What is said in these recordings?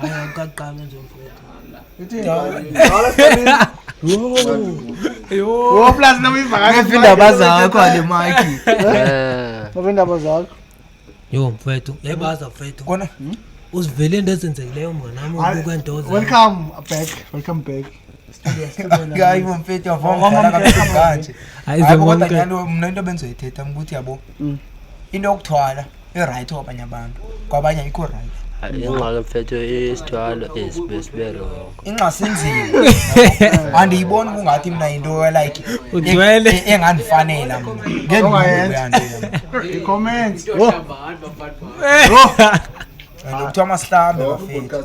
Hayi akaqala nje mfowethu. Ithi Wo plus noma ivakashe. Ngiphi indaba zakho ale maki. Eh. Ngiphi indaba zakho. Yo mfowethu, yayibaza mfowethu. Kona? Uzivele into ezenzekileyo mnganami ubuka indoza. Welcome back. Welcome back. hayi bo mfethu yavomdala kakhulu kanje Hayi, hayi bo kodwa zonke. nyalo mna into bendizoyithetha mna ukuthi yabo Mm. into yokuthwala i-right kwabanye abantu kwabanye ayikho right ingxaki mfethu isithwalo esibe sibe rongo inxasinzima andiyiboni kungathi mna yinto elike Ugcwele. e- engandifanela mna Ongayenza. ngendiyanto I-comments. Wo. kuthiwa masihlambe bafethu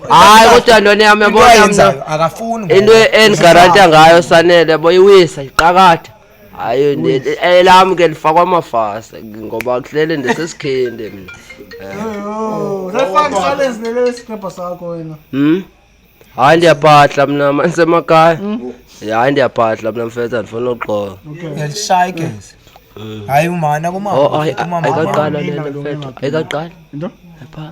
hayi kodwa lona yami into yabona ayenzayo mna akafuni ngoba into endigaranta uzohamba. ngayo sanele boyiwisa iqakatha hayi ne- elam ke lifakwa amafasa ngoba kuhlele ndisesikhindi mna Yoh, Refund silence lele sikrepha sakho wena. Hmm? hayi ndiyabhadla mna manisemakhaya hayi ndiyabhadla mna mfethu andifuna uxoka uyalishaya igezi hayi umana kumama Oh, ayi- ayi- kumama ayikaqala Mina lento lona mfethu ngaphi? ayikaqala Into? Epha-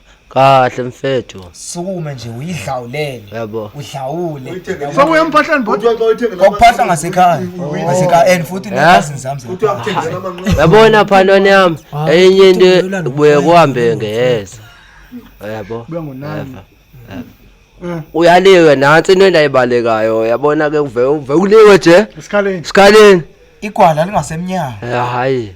kahle mfethu sukume nje uyidlawulele yabo udlawule sokuya emphahleni bhuti ngokuphahla ngasekhaya ngasekhaya and futhi ne-cousins zami yabona phanoni yami ah, enye into kubuye kuhambe ngeheza yabo eh. uyaliwe nansi into endayibalekayo yabona ke uve uve uliwe nje esikhaleni esikhaleni igwala lingasemnyango hayi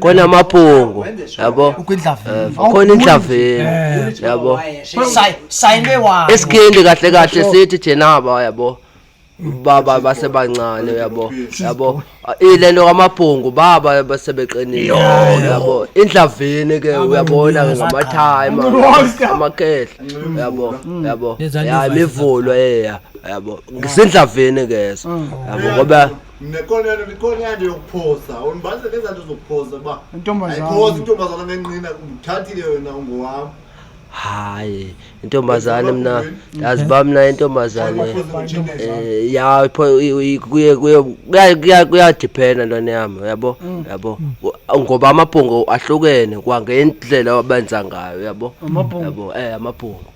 khona amabhungu yabo eh, khona indlaveni eh. yabo esikhindi kahle kahle sithi jenaba yabo baba basebancane yabo yabo ilento kamabhungu baba basebeqinile yabo indlavini ke uyabona ke ngamathayima amakhehla yabo yabo ya imivulo eya yabo ngisindlavini ke so mm. yabo ngoba Nekonelo likonelo yokuphosa. Unibase ngezanto zokuphosa ba. Intombazana. Ayiphosa intombazana ngenqina uthathile wena ungowami. Hayi, intombazane mina yazi ba mina intombazane eh ya ipho kuye kuye kuyadiphena ntwana yami uyabo mm. yabo ngoba amabhongo ahlukene kwangendlela abenza ngayo uyabo yabo eh amabhongo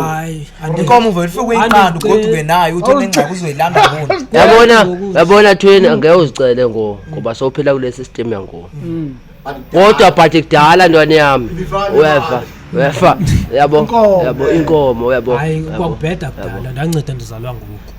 hayi inkomo uvele ufike uyiqanda ugoduke nayo uthi onengxaki uzoyilanda bona yabona yabona thweni angeke uzicele ngo ngoba sowuphila kule system yango mm. kodwa but kudala ntwana yami uyeva uyeva yabo yabo inkomo uyabo hayi kwakubheda kudala ndanceda ndizalwa ngoku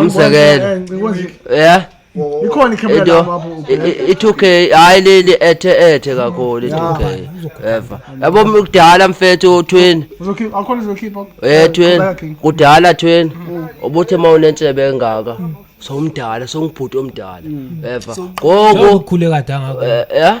umzekelo ya ikhona ikhemera lapho i-two k hhayi leli ethe ethe kakhulu i-two k eva yabo kudala mfethu twin um twin kudala twin mm. ubuthi uma unentshebe engaka mm. sowumdala sowungibhuti omdala mm. eva ngoku ukhule kade angaka eh, ya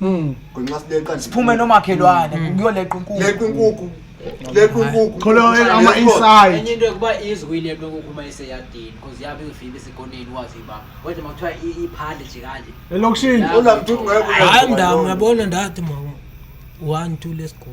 Mm. Ngenxa sileqa nje. Siphume nomakhelwane Mm. kuyoleqa inkukhu. Leqa inkukhu. Leqa inkukhu. Kholo ama inside. enye into yokuba izwi kuyileqa inkukhu uma iseyadini because yabe izofika isikoneni wazi ibaba kodwa uma kuthiwa i- iphandle nje kanje Elokishini. Hayi mndawo uyabona ndathi mama. 1 2 let's go.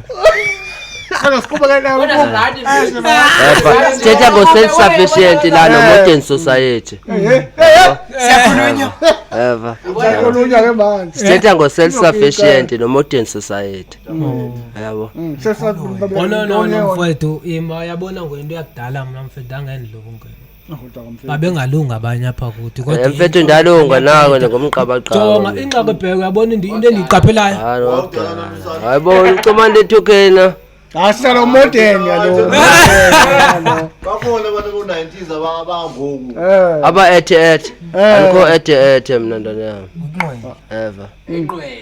sithetha ngo-self sufficient la no-modern society eva sithetha ngo-self sufficient no-modern society yabo ololona mfowethu ima yabona ngwento yakudala mna mfethu angendlobungena babengalungi abanye apha kuthi eh, mfethu ndalunga nawe ngomgqabagqaba inxaka ebheke uyabona into endiyiqaphelayo hayi bo ucomanda ethukena Asala umodern yalo. Bakhona abantu ku 90s abangoku. Eh. Aba ethe ethe. Eh. Alikho ethe ethe mina ndana yami. Ever. Inqwele.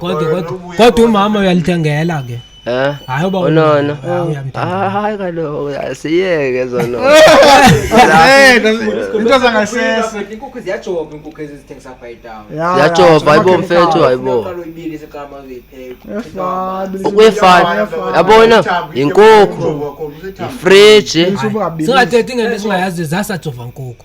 Kodwa Oya, kodwa nobuye kodwa kodwa. umama uyalithengela ke. Eh? Hayi uba Unono. Hayi, uyamthanda. Ah, Hayi kaloku asiyeke zono. into zangasese inkukhu ziyajoba inkukhu ezizithengisa apha etown Ya, Ziyajova, ya, hayibo ama- mfethu hayibo. uqala uyibili seqama uyipheka Yafana, Ukuyefana. Yafana. Yabona? Yinkukhu. Fridge. Singathethi ngento esingayazi zasajova nkukhu.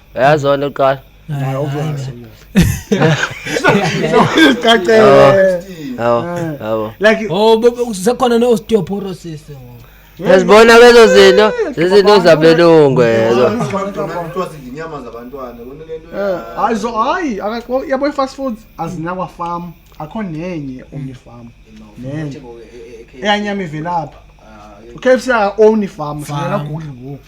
Uyazona uqala. Hayi obvious. Sizicacela. Hawo. Hawo. Like Oh bebe usekhona no osteoporosis. Yazibona lezo zinto, zizinto zabelungu lezo. inyama zabantwana kona lento eh hayi zo hayi akaqo yabo ifast food azinakwa farm akho nenye omni farm. Nenye. Eyanyama ivelapha. KFC own farm, singena Google ngoku.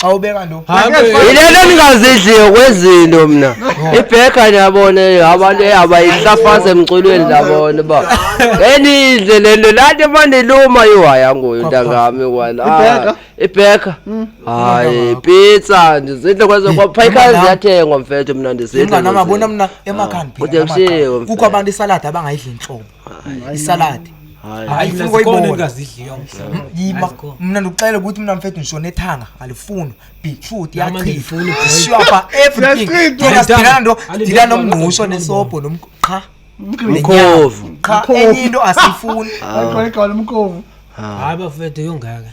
xa ubeka lo yilento ndingazidliyo kwezinto mna ibhega ndiyabona abantu abayihlafaza emculweni ndabona uba enidle le nto laa nto emandiluma iwaya ngoyo ntangami kwana ah, ibhega hmm. hayi pizza ndizidle kwezo kwapha ikhaya ziyathengwa mfethu mna ndizidleabona mna emakhani ah, kukho abantu isaladi abangayidli ntlobo isaladi hayi funa ukuyibona yima mina ndikuxela ukuthi mina mfethu ngishona ethanga alifuni beetroot yachithashwapha everything ndingasidilana ndo ndila nomngqusho nesobho nomqha mkhovu qha enye into asiyifuni mkhovu hayi bafethu yongaka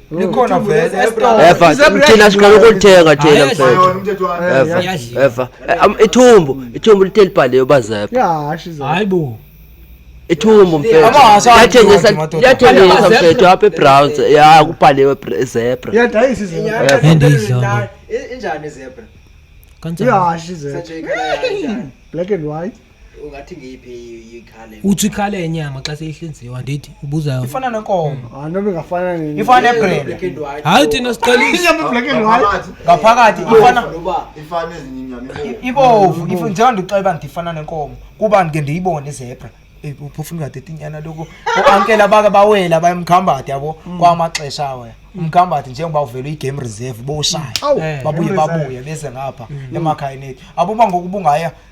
likhona vele efa thina siqala ukulithenga thina mfethu efa efa ithumbu ithumbu lithe libhaliwe bazepha yahashi hayi bo ithumbu mfethuyathengisa mfethu apha ebrowns ya kubhaliwe zebra yadayisa izebra injani zebra kanjani yahashi zebra black and white ungathi ngiyiphi ikhale uthi ikhale yenyama xa seyihlinziwa ndithi ubuza ifana nenkomo hayi noma ingafana nini ifana nebrenda hayi thina siqalisa inyama black and white ngaphakathi ifana ifana ezinye inyama ibovu ifu njengoba ndixeba ndithi ifana nenkomo kuba ndike ndiyibone izebra uphofu ingade tinyana lokho oankela bake bawela bayemkhambathi yabo mm. kwamaxesha awe umkhambathi njengoba uvela uyi-game reserve boshaya eh, babuye babuye bese ngapha mm. emakhayeni ethu abuba ngokubungaya mm.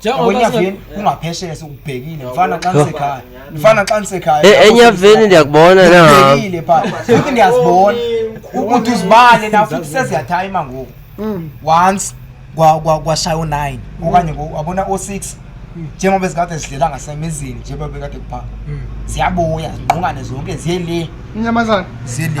Njengoba singa- enyaveni kungaphesheya sikubhekile mfana xa nisekhaya mfana xa nisekhaya E- lapho enyaveni senisekhaya. ndiyakubona na Ngibhekile pha futhi ngiyazibona ukuthi uzibale na futhi seziyathaima ngoku once kwa- kwa- kwashaya o-nine okanye ngo- wabona o-six njengoba zikade zidlela ngasemizini njengoba bekade kuphaka ziyabuya zingqungane zonke ziye le inyamazane ziye le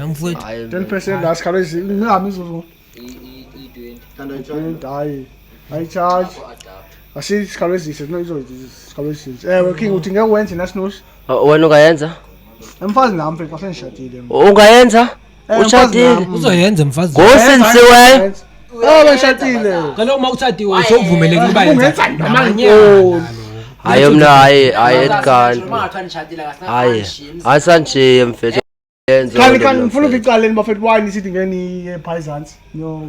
Mfowethu. Hayi, 10% la sikhala izinto ngihamba izuzu i-20 hayi hayi charge asi sikhala ezise no izo sikhala ezise ewe king uthi ngeke wenze nasinosi Uh, wena ungayenza emfazi nami mfethu wasengishadile ungayenza Eh, Ushadile. mfazi nami. uzoyenza mfazi Ngosensiwe. Oh, bashadile. cela uma ushadiwe usovumelekile uba yenza Ungenza noma namanye ngikoni. Hayi mna hayi hayi etkani. Hayi. Asangishiye mfethu. Yenza Khani into khani mina, ngifuna mfethu. ukuqaleni bafethu why nisithi ngeke niye phayizansi. No.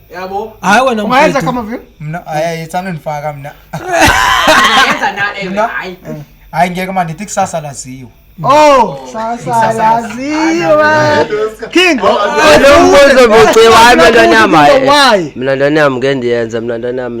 yabo hayi wena ungayenza kama vile mina hayi ithando nifaka mina yenza na ewe hayi hayi ngeke manje ithi kusasa laziwe Oh, sasa laziwa. King. Lo mbuzo buciwa mina ndanyama. Mina ndanyama ngendiyenza mina ndanyama.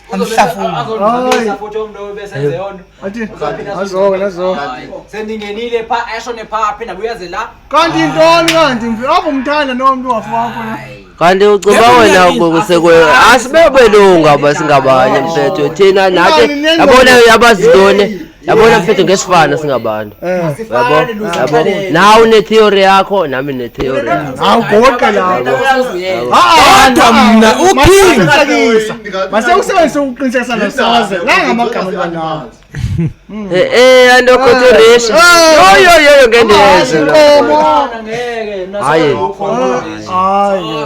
sendingenile pha eshone pha aphinde abuyaze la kanti intoni kanti mfi apho umthanda nomntu wafu wakho na kanti uceba wena ukusekweo asibebelunga basingabanye mfethu thina nathi yabona yabazintoni yabona mfethu ngesifana singabantu eh. yabo yabo nawe unetheory yakho nami netheory hawu goqa lapho kodwa mna uking mase usebenzise ukuqiniseka sana saze la ngamagama lanawo hmm. eh eh ando koturesh yo yo yo yo ngendezo hayi hayi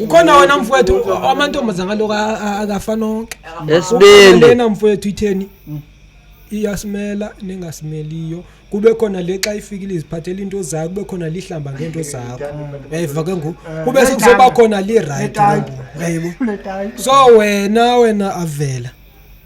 ukhona wena mfowethu amantombazana lokho akafani onke esibindilena mfowethu itheni iyasimela ningasimeliyo kube khona le xa ifikile iziphathela into zakho kube khona lihlamba ngento zakho yayiva ke ngoku eh, kube sekuzoba khona lirayithi yayibo so wena wena avela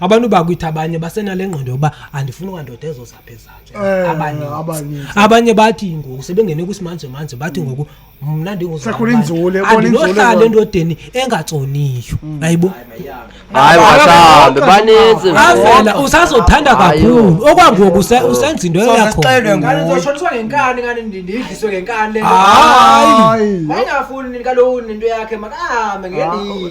abantu bakwitha abanye basenale ngqondo yokuba andifuna ukandoda ezozapha ezakhe Eh, abanye abanye. abanye bathi ngoku sebengene kwisimanje manje bathi ngoku mna Sekhona inzule, bona inzule ndinguzandinohlala bona. endodeni engatsoniyo ayibo hayi wasambe baninzi avela usazothanda Hayi, kakhulu okwangoku use- usenza into yakho Sasixelwe ngani nguye. ndizoshoniswa ngenkani ngani ndi- ndiyidliswe ngenkani le nto. Hayi. Hayi. wayengafuni nini kaloku nento yakhe makahambe ngelihlo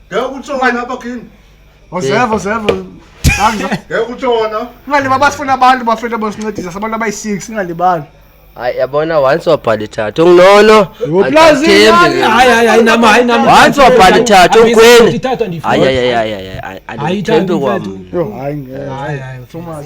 ngeke kutshona lapha kini Ozeva ozeva. Hamba. ngeke kutshona Ungalibali basifuna abantu bafethu abosincedisa sabantu abayi-6 ungalibali. hayi yabona once wabhala ithathu nginono Uplazini hayi hayi hayi nama hayi nama once wabhala ithathu ugwini Ithathu andifuni. hayi hayi hayi hayi hayi Ayithathi andithembi kwam mfethu. Yo hayi ngeke. Hayi hayi. Thomas.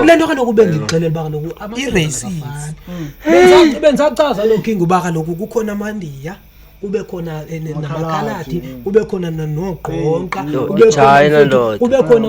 kule nto kaloku bendixelela uba kaloku amaracist mm. bendisachaza loo king uba kaloku kukhona amandiya kube khona eh, namakhaladi kube khona nogqonqa kube khona